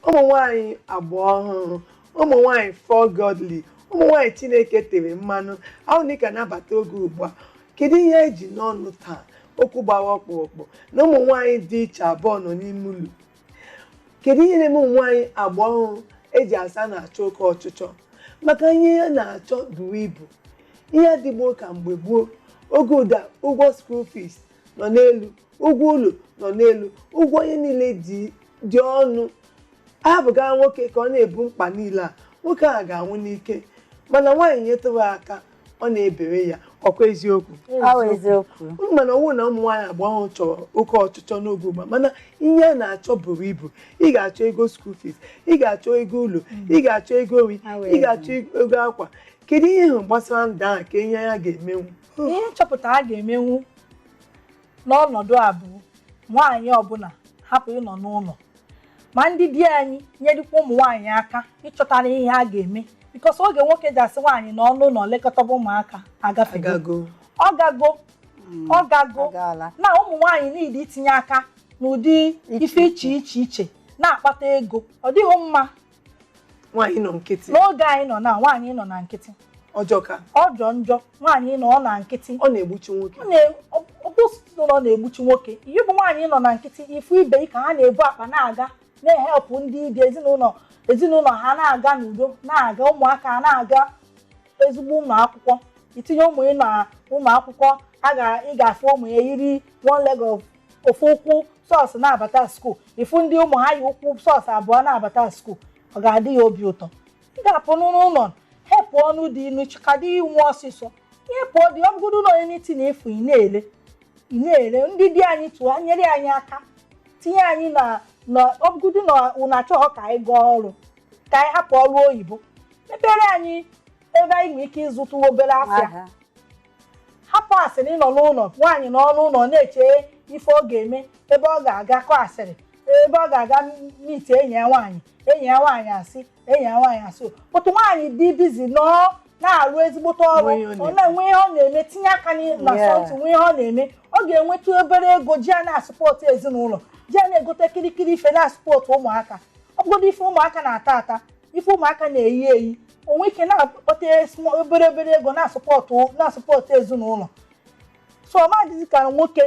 ụmụ nwanyị agba ọhụrụ ụmụ nwanyị for godly ụmụ nwanyị chineke tere mmanụ ahụ na ị ka nabata oge ugbu a kedu ihe eji n'ọnụ taa okwu gbara ọkpụrụkpụ na ụmụ nwanyị dị iche abụọ nọ n'ime ụlọ kedu ihe na-eme ụmụ nwaanyị agba ọhụrụ eji asa na-achọ oke ọchịchọ maka ihe a na-achọ buru ibu ihe adịghọ ka mgbe gboo oge ugbu a ụgwọ school fees nọ n'elu ụgwọ ụlọ nọ n'elu ụgwọ ihe niile dị ọnụ a hapụga nwoke ka ọ na-ebu mkpa niile a nwoke ahụ ga-anwụ n'ike mana nwaanyị nyetụrụ aka ọ na-ebere ya ọkwa eziokwu Awa eziokwu. unu mana ọ wụ na ụmụ nwaanyị agba ọhụrụ chọrọ oke ọchịchọ n'oge ugbu a mana ihe a na-achọ buru ibu ị ga-achọ ego school fees ị ga-achọ ego ụlọ ị ga-achọ ego nri Awa ị ga-achọ ego akwa kedu ihe ị hụ gbasara ndụ ahụ ka ihe ya ga-emenwu ihe nchọpụta a ga-emenwu N'ọnọdụ a bụ nwaanyị ọbụla hapụ ịnọ n'ụlọ, ma ndị di anyị nyerekwa ụmụ nwaanyị aka ịchọtara ihe ha ga-eme because oge nwoke ji asị nwaanyị nọọ n'ụlọ lekọtaba ụmụaka agafego agago ọ gago ọ gago agaala na ụmụ nwaanyị niile itinye aka n'ụdị ife iche iche iche na-akpata ego ọ dịghị mma nwaanyị nọ nkịtị n'oge anyị nọ na nwaanyị nọ na nkịtị ọ jọka ọ jọ njọ nwaanyị nọọ na nkịtị ọ na-egbuchi nwoke ọbụsụtụ nọ na-egbuchi nwoke ị bụ nwaanyị nọ na nkịtị ị fụ ibe ị ka ha na-ebu akpa na-aga na-help ndị ibi ezinụlọ ezinụlọ ha na-aga n'udo na-aga ụmụaka na-aga ezigbo ụlọ akwụkwọ i tinye ụmụ ị n'ụlọ akwụkwọ a ga ị ga-afụ ụmụ ya yiri one leg of ofu ụkwụ socks na-abata school ị fụ ndị ụmụ ha yi ụkwụ socks abụọ na-abata school ọ ga-adị ya obi ụtọ ị ga-apụ n'ụlọ helpụọnụ di unu chịka di unu ọsịsọ ị helpụọ di ọ bụgodo na onye n'iti na efu ị na-ele ị na-ele ndị di anyị too nyere anyị aka tinye anyị na na ọ bụgodo na ụnụ achọghọ ka anyị gaa ọrụ ka anyị hapụ ọrụ oyibo mepere anyị ebe anyị nwere ike ịzụtụ obere afịa Aha. hapụ asịrị ịnọ n'ụlọ nwaanyị nọ n'ụlọ na-eche ife ọ ga-eme ebe ọ ga-aga kọ asịrị ebe ọ ga-aga meet enyi ya nwaanyị enyi ya nwaanyị asị enyi ya nwaanyị asị but nwaanyị dị busy nọọ na-arụ ezigbote ọrụ Nwee ihe ọ ọ na-enwe ihe ọ na-eme tinye aka n'i- na Yeah. something nwee ihe ọ na-eme ọ ga-enweta obere ego ji ya na-support ezinụlọ ji ya na-egote kirikiri ife na-support ụmụaka ọ bụgodị ife ụmụaka na-ata ata ife ụmụaka na-eyi eyi o nwee ike na-akpọta small- obere obere ego na-asụpọtụ na-asụpọtụ ezinụlọ so ọ ma dịzi ka nwoke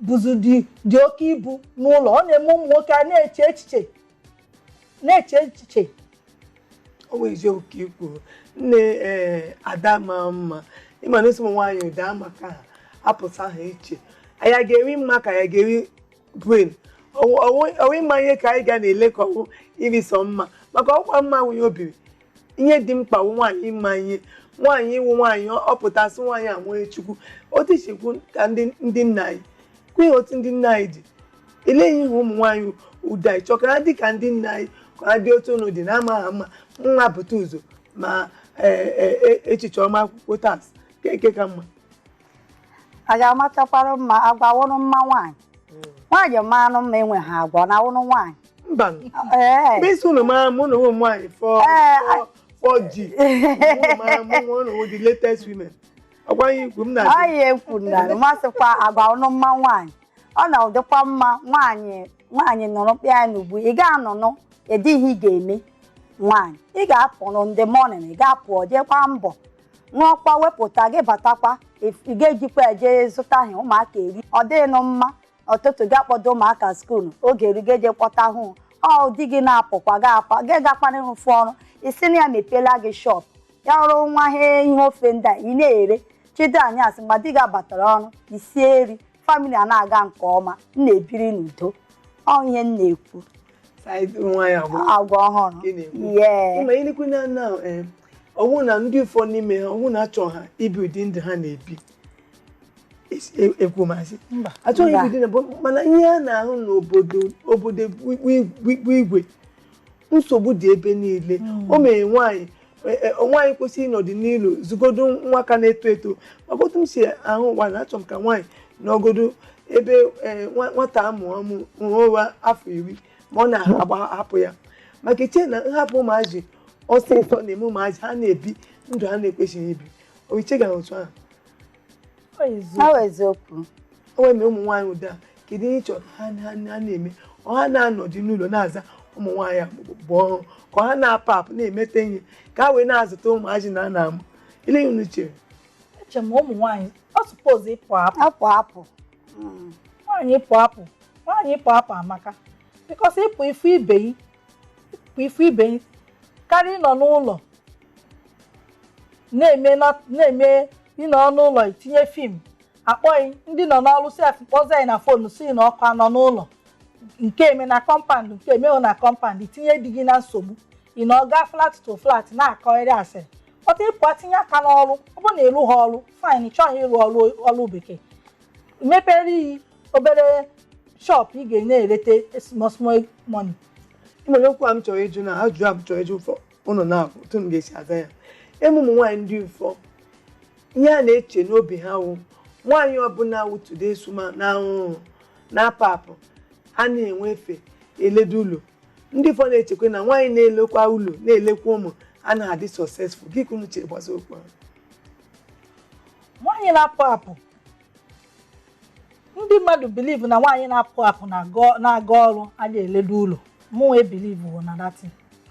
buzi dị dị oke ibu n'ụlọ ọ na-eme ụmụ nwoke a na-eche echiche na-eche echiche ọ bụ eziokwu ka i kwuru nne ee ada maa mma ịma na a sị ụmụ nwaanyị ụda maka ha apụta ha iche anyị ga-eri mma ka anyị ga-eri brain ọ wụ ịma ihe ka anyị ga na-ele ka ọ wụ iri sọ mma maka ọkwa mma nwunye obiri ihe dị mkpa wụ nwaanyị ịma ihe nwaanyị ịwụ nwaanyị ọ pụtasị nwaanyị enwee chukwu otu i si kwu ka ndị nna anyị kwenye otu ndị nna anyị dị ele ihe ụmụ nwaanyị ụda achọ ka ha dị ka ndị nna anyị ka ha dị otu unu dị na amaghị mma nwa pụta ụzọ ma e, e, e, echiche ọma akwụkwọ tas ka eke ka mma a ga-amachakwara mma agwa wụrụ mma nwaanyị nwaanyị maarụ mma enweha agwa na wụrụ nwaanyị mba ee mgbe ị sị unu mara mụ na ụmụ nwaanyị four Ee, four- four G unu mara mụ nwa unu wụ the latest women ọgwa ihe ikwu m na ọ ya ekwu na ma a sịkwa agwa wụrụ mma nwaanyị ọ na ụdịkwa mma nwaanyị nwaanyị nọrọ mkpịa ya n'ugbu ị ga-anọnụ ịdịghị ị ga-eme nwaanyị ị ga-apụrụ in the morning ị ga-apụ ọ jeekwa mbọ ṅụọkwa wepụta gị batakwa if- ị ga-ejikwa eje zụta ihe ụmụaka eri ọ dịghịnụ mma ọtụtụ gị akpọdo ụmụaka school oge eru gị je kpọta ha ọ di gị na-apụkwa gị akwa gị gakwana ịrụfụ ọrụ ị sị na ya mepeela gị shop ya wụrụ nwa ihe ihe ofe ndị a ị na-ere chi da anyasị mgbe di gị abatara ọrụ i sie e rie family a na-aga nke ọma m na-ebiri n'udo ọ ihe m na-ekwu Side nwa ya agwa agwa ọhụrụ ị na-ekwu yee ịma ị na-ekwu na na eh, ọ wụ na ndị ụfọ n'ime ha ọ wụ na achọha ibi ụdị ndụ ha na-ebi Esi- e- ekwu maazị Mba. achọghị Mba. ibi ụdị na bụ mana ihe a na-ahụ n'obodo obodo bụ igwe nsogbu dị ebe niile o mere nwaanyị E, e, nwaanyị kwesịrị ịnọdụ n'ụlọ zụgodo nwa ka na-eto eto maka otu m si ahụ ụwa na achọ m ka nwaanyị nọgodo ebe e, nwata amụ amụ nwa afọ iri ma ọ na-ahapụ ya maka eche na nhapụ ụmụazị ọsịsọ na-eme ụmụazị ha na-ebi ndụ ha na-ekwesịghị ibi oiche gara otu ahụ eziokwu o nwe na ụmụ nwaanyị ụda kedu ihe ị chọrọ ha na-eme ọ ha na-anọdụ n'ụlọ na-aza ụmụ nwaanyị bụ ọrụ ka ọ ha na-apụ apụ na-emete ihe ka ha wee na-azụta ụmụazị na ana amụ ile ihe unu chere eche m ụmụ nwaanyị ọ suppose ịpụ apụ apụ hmm. nwaanyị ịpụ apụ nwaanyị ịpụ apụ amaka because ị pụ ị fụ ibe yị bụ ifu ibe karịa ịnọ n'ụlọ na-eme na- na-eme ịnọ n'ụlọ itinye film akpọ gị ndị nọ n'ọrụ sef kpọzi anyị na phone sị na ọkụ anọ n'ụlọ nke eme na compound nke emeghị na compound itinye di gị na nsogbu ị na-aga flat to flat na-akọgharị asịrị but ị pụa tinye aka n'ọrụ ọ bụrụ na ịrụ ha ọrụ fine ị chọghị ịrụ ọrụ ọrụ bekee mepere iyi obere shop ị ga na-ereta small small money e nwere okwu a m chọrọ ịjụ na ajụjụ a m chọrọ ịjụ ụfọ ụnụ naabọ otu m ga-esi aza ya ime ụmụ nwaanyị ndị ụfọ ihe ha na-eche n'obi ha wụ nwaanyị ọbụla wụ today's woman ahụ na-apụ apụ anaghị enwe efe eledo ụlọ ndị ụfọ na-echekwa na nwaanyị na-elekwa ụlọ na-elekwa ụmụ anaghị adị successful gịnị ka unu chere gbasa okwu ahụ nwaanyị na-apụ apụ ndị mmadụ believe na nwaanyị na-apụ apụ na-aga ọrụ adị eledo ụlọ mụwa ebelieve na that thing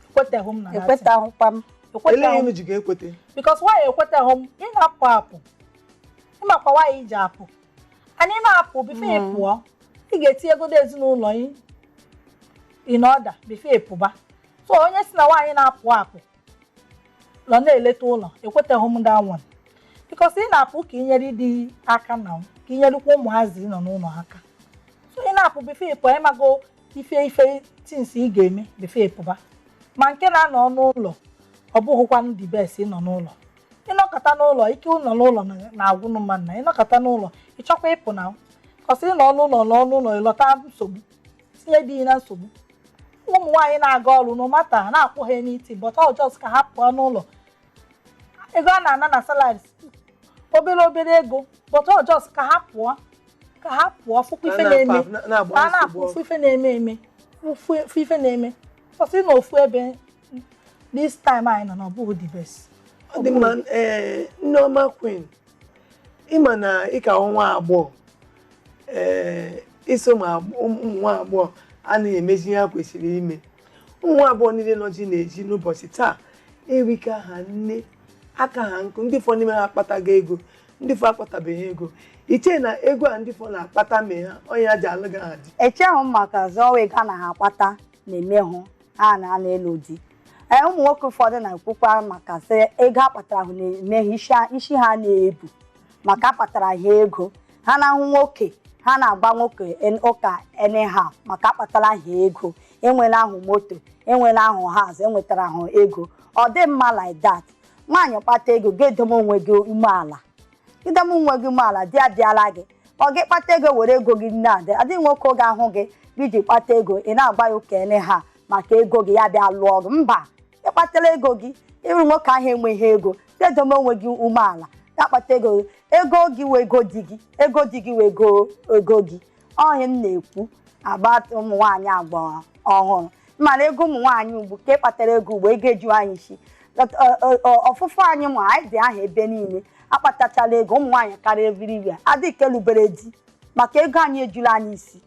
ekweteghị m na that thing ekwetaghịkwa m elee ihe m ji ga-ekwete because nwaanyị ekweteghị m ị na-apụ apụ ị makwa nwaanyị ji apụ and ị na-apụ before ị pụọ ị ga-etiegodo ezinụlọ ị in order before ị pụba so onye sị na nwaanyị na-apụ apụ nọ na-eleta ụlọ ekweteghị m that one because ị na-apụ ka i nyere di ị aka na ka i nyerekwa ụmụazị ị nọ n'ụlọ aka so ị na-apụ before ị pụọ ị mago ife ife things ị ga-eme before ị pụba ma nke na-anọ n'ụlọ ọ bụghịkwa the best ịnọ n'ụlọ ịnọkọta n'ụlọ ike ịnọ n'ụlọ na- na-agwụnụ mmadụ na ịnọkọta n'ụlọ ị chọkwa ịpụ na cos ị nọ n'ụlọ nọ n'ụlọ ị nọta nsogbu tinye di ị na nsogbu ụmụ nwaanyị na-aga ọrụ no matter na-akwụ ha little but ọ just ka ha pụọ n'ụlọ ego a na-ana na salaries obere obere ego but ọ just ka ha pụọ ka ha pụọ fụkwa ife na-eme ka ha na-afụ ofu ife na-eme eme ofu ofu ife na-eme cos ịnọ ofu ebe this time anyị nọ na ọ bụghị the best ọ dị mma ee nneọma queen ị ma na ị ka wụ nwa agbọghọ ee i so ma agb- ụmụ nwa agbọghọ anaghị emezi ihe ha kwesịrị ime ụmụ nwa agbọghọ niile nọzi n'ezi n'ụbọchị taa erika ha nne aka ha nkụ ndị ụfọ n'ime ha akpatago ego ndị ụfọ akpatabeghị ego i che na ego a ndị ụfọ na-akpata mee ha ọ ya e ji alụghị ha di echeghị m maka zọwa ego a na ha akpata na-emehụ ha na anaghị alụ di ee ụmụ nwoke ụfọdụ na-ekwukwa maka sị ego ha kpatara ahụ na-eme ha isi ha na-ebu maka akpatara ha ego ha na-ahụ nwoke ha na-agba nwoke en- ụka anyhow maka akpatara ha ego enwela ha moto enwela ha house enwetara ha ego ọ dịghị mma like that nwaanyị kpata ego gị edowe onwe gị umeala i dowe onwe gị umeala di abịala gị ọ gị kpata ego were ego gị na-adị adịghị nwoke oge ahụ gị ji kpata ego ị na-agba ya ụka anyhow maka ego gị ya bịa lụọ gị mba ị kpatara ego gị ị hụ nwoke ahụ enweghị ego dedome onwe gị umeala ya kpata ego gị ego gị wee ego di gị ego di gị wee ego ego gị ọ ihe m na-ekwu a bụ ụmụ nwaanyị agba ọhụrụ mana ego ụmụ nwaanyị ugbu a kpatara ego ugbu a ego eju anyị isi ọt- ọ- ọ- ọ- ọtụtụ anyị ma anyị dị aha ebe niile akpatachala ego ụmụ nwaanyị karịa everywhere adịkwa elubere di maka ego anyị ejula anyị isi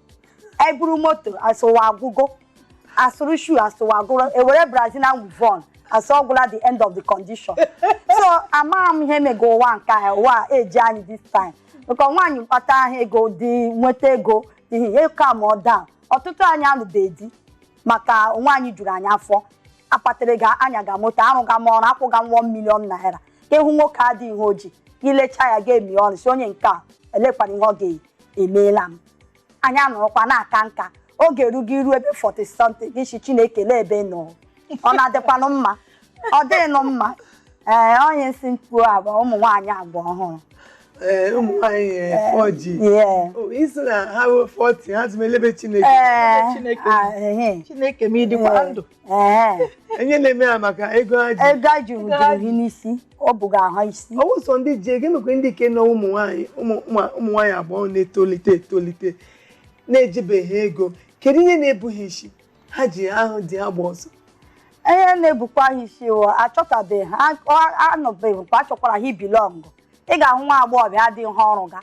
e buru moto a sị ụwa agwụgo a zụrụ shoe a sị ụwa agwụla e were Brazilian weavon a sị ọ gwụla the end of the condition so amaghị m ihe mega ụwa nke a ụwa a eji anyị this time maka nwaanyị kpata ahụ ego di nweta ego ihe ka ma ọ daa ọtụtụ anyị alụbeghị di maka nwaanyị juru anyị afọ akpatara ga anyaga m moto arụga m ọrụ akwụga m 1 million naira ka ị hụ nwoke adịghị ihe o ji i lechaa ya ga-emi ọnụ sị onye nke a elekwanụ ihe ọ ga-emeela m anyị anọrọkwa na-aka nka oge erugo i ruo ebe 40 something gị sị Chineke lee ebe ị nọ ọ na-adịkwanụ mma ọ dịghịnụ mma ee onye m sị m kwuo a bụ ụmụ nwaanyị agba ọhụrụ ee ụmụ nwaanyị ee, 4G Yeah. O, ị sị na ha ruo 40 ha jụwa lee ebe Chineke Ee, Chineke. ah, ehe. Chineke m ị dịkwa ndụ ihe na-eme ha maka ego ha ji ego ha ji wụjuru gị n'isi o buga ha isi ọ wụ sọ ndị ji ego emekwe ndị ike na ụmụ nwaanyị ụmụ nwaanyị agbọghọ na-etolite etolite na-ejibeghị ego kedu ihe na-ebu ha isi ha ji ahụ di agba ọsọ ihe na-ebukwa ha isi achọtabeghị ha anọbeghịkwa achọkwara ha ị belong ị ga-ahụ nwa agbọghọbịa adịghị ihe ọ rụga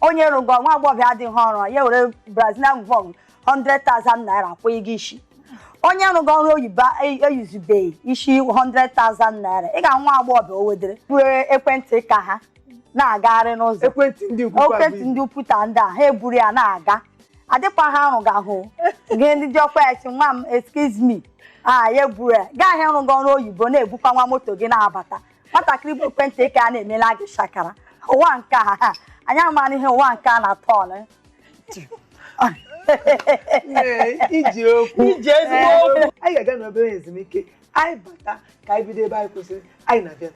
onye rụgo nwa agbọghọbịa adịghị ihe ọ rụ ya were Brazilian weavon 100,000 naira kwụ gị isi onye rụgo ọrụ oyibo eyizubeghị isi 100,000 naira ị ga-ahụ nwa agbọghọbịa o wedere buru ekwentị ka ha na-agagharị n'ụzọ ekwentị ndị ukwu kwa ekwentị bụ- ndị ukwuta ndị a ha eburu ya na-aga adịkwa ha arụga ahụ gị ndị dị ọkwa ya sị nwa m excuse me a ya eburu ya gaa ahịa rụgo ọrụ oyibo na-ebukwa nwa moto gị na-abata nwatakịrị bu ekwentị nke a na-emela gị shakara ụwa nke a ha anyị amaghị ihe ụwa nke a na-atọ ọnụ Ee, i ji okwu I ji ezigbo okwu. anyị ga-aga n'obere ezumike anyị bata ka anyị bido ebe anyị kwụsịrị anyị na-abịa